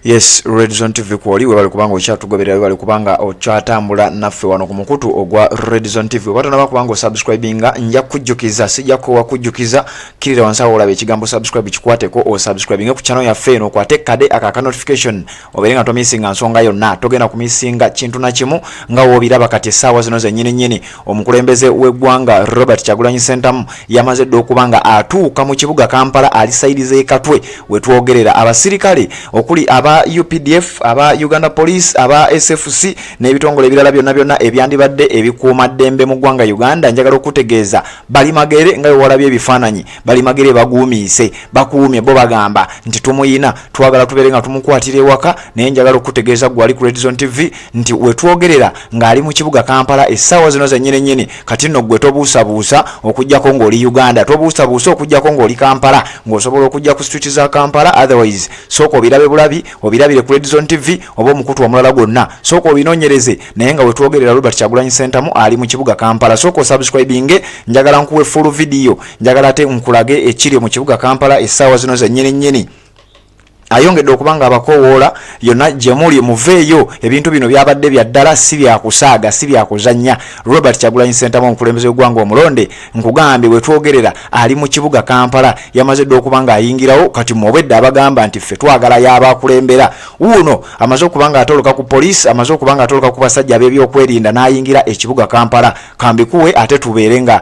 yes red zone tv kwoli webale kubanga okyatugoberera webale kubanga okyatambula naffe wano ku mukutu ogwa red zone tv oba tonaba kubanga osubscribinga nja kujjukiza sijja kowa kujjukiza kirira wansi awo olaba ekigambo subscribe kikwateko osubscribinge ku channel yaffe eno okwate kade aka ka notification obeere nga tomisinga nsonga yonna togenda kumisinga kintu na kimu nga woobiraba kati essaawa zino zennyini nnyini Omukulembeze w'eggwanga Robert Kyagulanyi Ssentamu yamaze dda okuba nga atuuka mu kibuga Kampala ali sayidi z'e Katwe we twogerera. Abasirikale okuli aba UPDF, aba Uganda Police, aba SFC n'ebitongole ebirala byonna byonna ebyandibadde ebikuuma ddembe mu ggwanga Uganda njagala okutegeeza bali magere nga bwe walabye ebifaananyi bali magere baguumiise bakuumye bo bagamba nti tumuyina twagala tubeere nga tumukwatira ewaka naye njagala okutegeeza gwali ku Red Zone TV nti wetwogerera ng'ali mu kibuga kampala essaawa zino zenyini nyini kati nno ggwe tobuusabuusa okugyako ng'oli uganda tobuusabuusa okugyako ng'oli kampala ng'osobola okujja ku street za kampala otherwise sooka obirabe bulabi obirabire ku redzon tv oba omukutu omulala gwonna sooka obinoonyereze naye nga wetwogerera robert kyagulanyi sentamu ali mu kibuga kampala sooka osubscribinge njagala nkuwe full video njagala ate nkulage ekiri mu kibuga kampala essaawa zino zenyini nyini ayongedde okuba nga abakowoola yonna gye muli muveeyo ebintu bino byabadde bya ddala si byakusaaga si byakuzannya robert kyagulanyi sentamu omukulembeze w'eggwanga omulonde nkugambye bwe twogerera ali mu kibuga kampala yamaze dda okuba nga ayingirawo kati mu obwedde abagamba nti ffe twagala yabaakulembera wuuno amaze okuba nga atoloka ku poliisi amaze okuba nga atoloka ku basajja ab'ebyokwerinda n'ayingira ekibuga kampala kambikuwe ate tubeere nga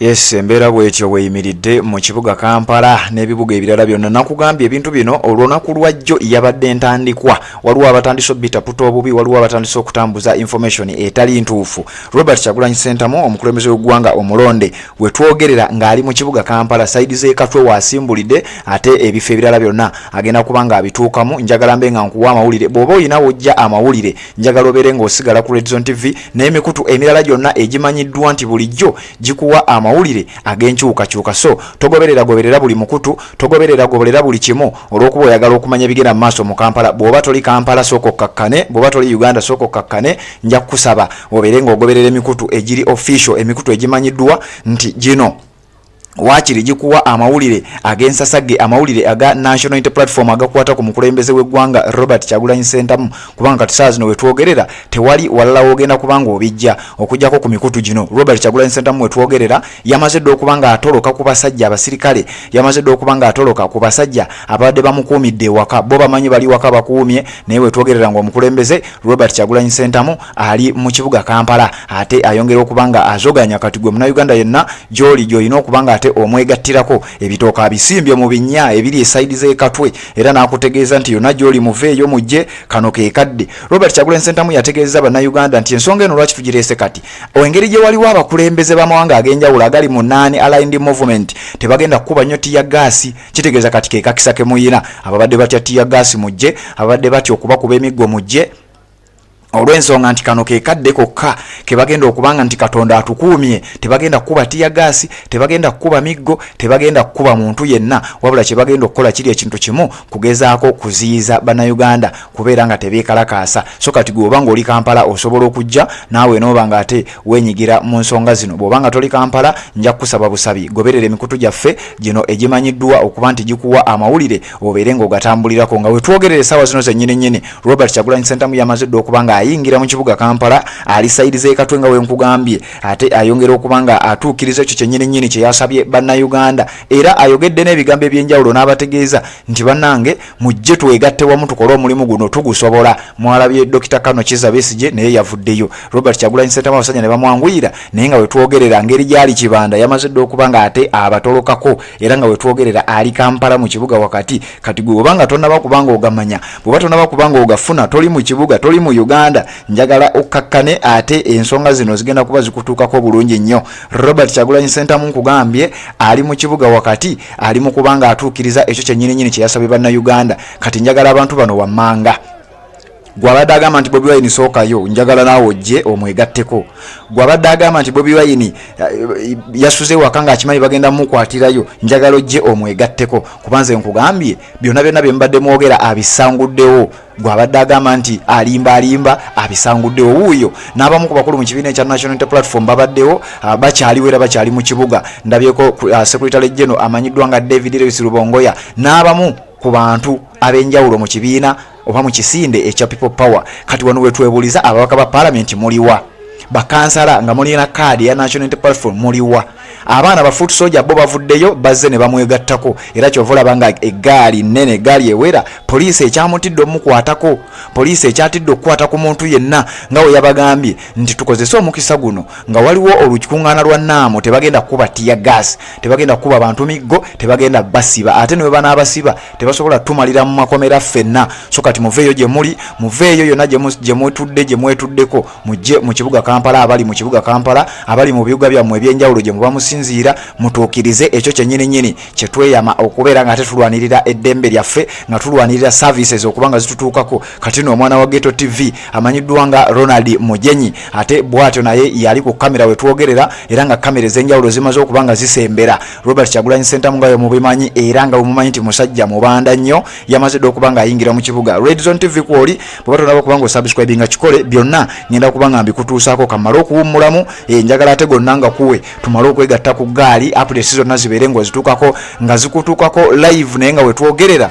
Yes, embeera bwetyo weyimiridde mu kibuga Kampala n'ebibuga ebirala byonna. Nakugambye ebintu bino olunaku lwa jjo yabadde ntandikwa. Waliwo abatandise obitaputa obubi, waliwo abatandise okutambuza information etali ntuufu. Robert Kyagulanyi Ssentamu, omukulembeze w'eggwanga omulonde, we twogerera ng'ali mu kibuga Kampala, sayidi z'e Katwe w'asimbulidde ate ebifo ebirala byonna agenda kuba ng'abituukamu. Njagala mbe nga nkuwa amawulire. Bw'oba olina w'ojja amawulire, njagala obeere ng'osigala ku redzon tv n'emikutu emirala gyonna egimanyiddwa nti bulijjo gikuwa amawulire ag'enkyukakyuka so togoberera goberera buli mukutu togoberera goberera buli kimu olw'okuba oyagala okumanya ebigenda mu maaso mu kampala bw'oba toli kampala sooka okkakkane bw'oba toli uganda sooka okkakkane nja kukusaba obeere ng'ogoberera emikutu egiri official emikutu egimanyiddwa nti gino waakiri gikuwa amawulire ag'ensasage amawulire aga national inter platform agakwata ku mukulembeze w'eggwanga robert kyagulanyi sentamu kubanga kati saa zino wetwogerera tewali walala wogenda kubanga obijja okujjako ku mikutu gino robert kyagulanyi sentamu wetwogerera yamaze dda okuba nga atoloka ku basajja abasirikale yamaze dda okuba nga atoloka ku basajja ababadde bamukuumidde ewaka bo bamanyi bali waka bakuumye naye wetwogerera ngaomukulembeze robert kyagulanyi sentamu ali mu kibuga Kampala ate ayongera okuba nga azoganya kati gwe munauganda yenna gyoli gyolina okuba nga ate omwegattirako ebitooka abisimbye mu binnya ebiri esaidi z'ekatwe era n'akutegeeza nti yonna gyoli muveeyo mujje kano kekadde Robert Kyagulanyi Ssentamu yategeezza bannayuganda nti ensonga eno lwaki tugireese kati engeri gye waliwo abakulembeze b'amawanga ag'enjawulo agali mu naani aligned movement tebagenda kukuba nnyo tiya gaasi kitegeeza kati kekakisa kemuyina ababadde batya tiya gaasi mujje ababadde batya okubakuba emiggo mujje olw'ensonga nti kano ke kadde kokka ke bagenda okubanga nti katonda atukuumye tebagenda kukuba tiyagaasi tebagenda kukuba miggo tebagenda kukuba muntu yenna wabula kye bagenda okukola kiri ekintu kimu kugezaako kuziyiza bannayuganda kubeera nga tebeekalakaasa so kati gwe oba ng'oli kampala osobola okujja naawe nooba nga ate weenyigira mu nsonga zino bw'oba nga toli kampala nja kukusaba busabi goberera emikutu gyaffe gino egimanyiddwa okuba nti gikuwa amawulire obeere ng'ogatambulirako nga wetwogerera essaawa zino zennyini nnyini Robert Kyagulanyi Ssentamu yamaze dda okuba nga ayingira mu kibuga Kampala ali sayidi z'ekatwe nga wenkugambye ate ayongera okuba nga atuukiriza ekyo kyennyini nnyini kye yasabye bannayuganda era ayogedde n'ebigambo eby'enjawulo n'abategeeza nti bannange mujje twegatte wamu tukole omulimu guno tugusobola mwalabye Dokita Kano Kiza Besigye naye yavuddeyo Robert Kyagulanyi Ssentamu abasajja ne bamwanguyira naye nga wetwogerera ngeri gyali kibanda yamaze dda okuba nga ate abatolokako era nga wetwogerera ali kampala mu kibuga wakati kati gwe obanga tonaba kubanga ogamanya bweba tonaba kubanga ogafuna toli mu kibuga toli mu uganda njagala okkakkane ate ensonga zino zigenda kuba zikutuukako bulungi nnyo robert kyagulanyi sentamu nkugambye ali mu kibuga wakati ali mu kubanga atuukiriza ekyo kyenyininyini kyeyasabye banna uganda kati njagala abantu bano wammanga gwabadde agamba nti bobi wayini sookayo njagala naawe ojje omwegatteko gwabadde agamba nti bobi wayini eh, yasuze waka nga akimanyi bagenda mukwatirayo njagala ojje omwegatteko kuba nze nkugambye byonna byonna bye mubadde mwogera abisanguddewo gwabadde agamba nti alimba alimba abisanguddewo wuuyo n'abamu ku bakulu mu kibiina ekya national inter platform babaddewo ah, bakyaliwo era bakyali mu kibuga ndabyeko ah, secretary geno amanyiddwa nga david lewis lubongoya n'abamu ku bantu ab'enjawulo mu kibiina oba mu kisinde ekya people power kati wano wetwebuuliza ababaka ba paalamenti muliwa bakansala nga mulina kaadi ya national unity platform muliwa abaana ba foot soja bo bavuddeyo bazze ne bamwegattako era kyova olaba nga eggaali nnene eggaali ewera poliisi ekyamutidde omukwatako poliisi ekyatidde okukwata ku muntu yenna nga we yabagambye nti tukozese omukisa guno nga waliwo olukikuŋŋaana lwa naamu tebagenda kukuba tiya gaasi tebagenda kukuba bantu miggo tebagenda basiba ate ne bwe banaabasiba tebasobola tumalira mu makomera ffenna so kati muveeyo gye muli muveeyo yonna gye mutudde gye mwetuddeko mujje mu kibuga kampala abali mu kibuga kampala abali mu bibuga byammwe ebyenjawulo gye muba musinziira mutuukirize ekyo kyennyini nyini kye tweyama okubeera nga ate tulwanirira eddembe lyaffe nga tulwanirira services okuba nga zitutuukako kati no omwana wa geto tv amanyiddwa nga ronald mujenyi ate bwatyo naye yali ku kamera we twogerera era nga kamera ez'enjawulo zimaze okuba nga zisembera Robert Kyagulanyi Ssentamu nga bwemubimanyi era nga bwemumanyi nti musajja mubanda nnyo yamaze dda okuba ng'ayingira mu kibuga Red Zone TV kwoli bweba tonaba okuba nga osubscribe nga kikole byonna ngenda kuba nga mbikutuusaako kamale okuwummulamu eh, njagala ate gonna nga kuwe tumale okwegatta ku ggaali updates zonna zibeere ng'ozituukako nga zikutuukako live naye nga wetwogerera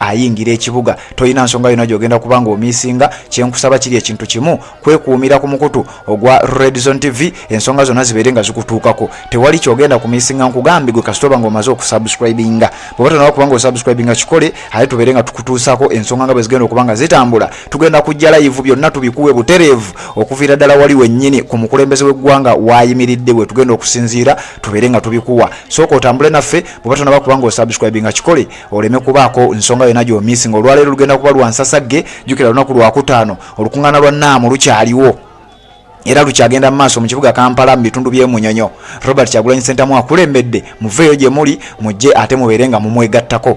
ayingira ekibuga tolina nsonga yona gyogenda kuba nga omisinga kyenkusaba kiri ekintu kimu kwekuumira ku mukutu ogwa redzon tv ensonga zonna zibeere nga zikutuukako tewali kyogenda kumisinga nkugambi gwe kasitoba nga omaze okusubscribinga bweba tonawa kubanga osubscribinga kikole aye tubeere nga tukutuusako ensonga nga bwezigenda okuba nga zitambula tugenda kujja layivu byonna tubikuwe butereevu okuviira ddala wali wennyini ku mukulembeze w'eggwanga wayimiridde bwe tugenda okusinziira tubeere nga tubikuwa sooka otambule naffe bweba tonaba kubanga osubscribinga kikole oleme kubaako nsonga yona gyomisi nga olwaleero lugenda kuba lwansasagge jukira lunaku lwakutaano olukuŋŋaana lwa naamu lukyaliwo era lukyagenda mu maaso mu kibuga kampala mu bitundu by'emunyonyo robert kyagulanyi sentamu akulembedde muveeyo gye muli mujje ate mubeere nga mumwegattako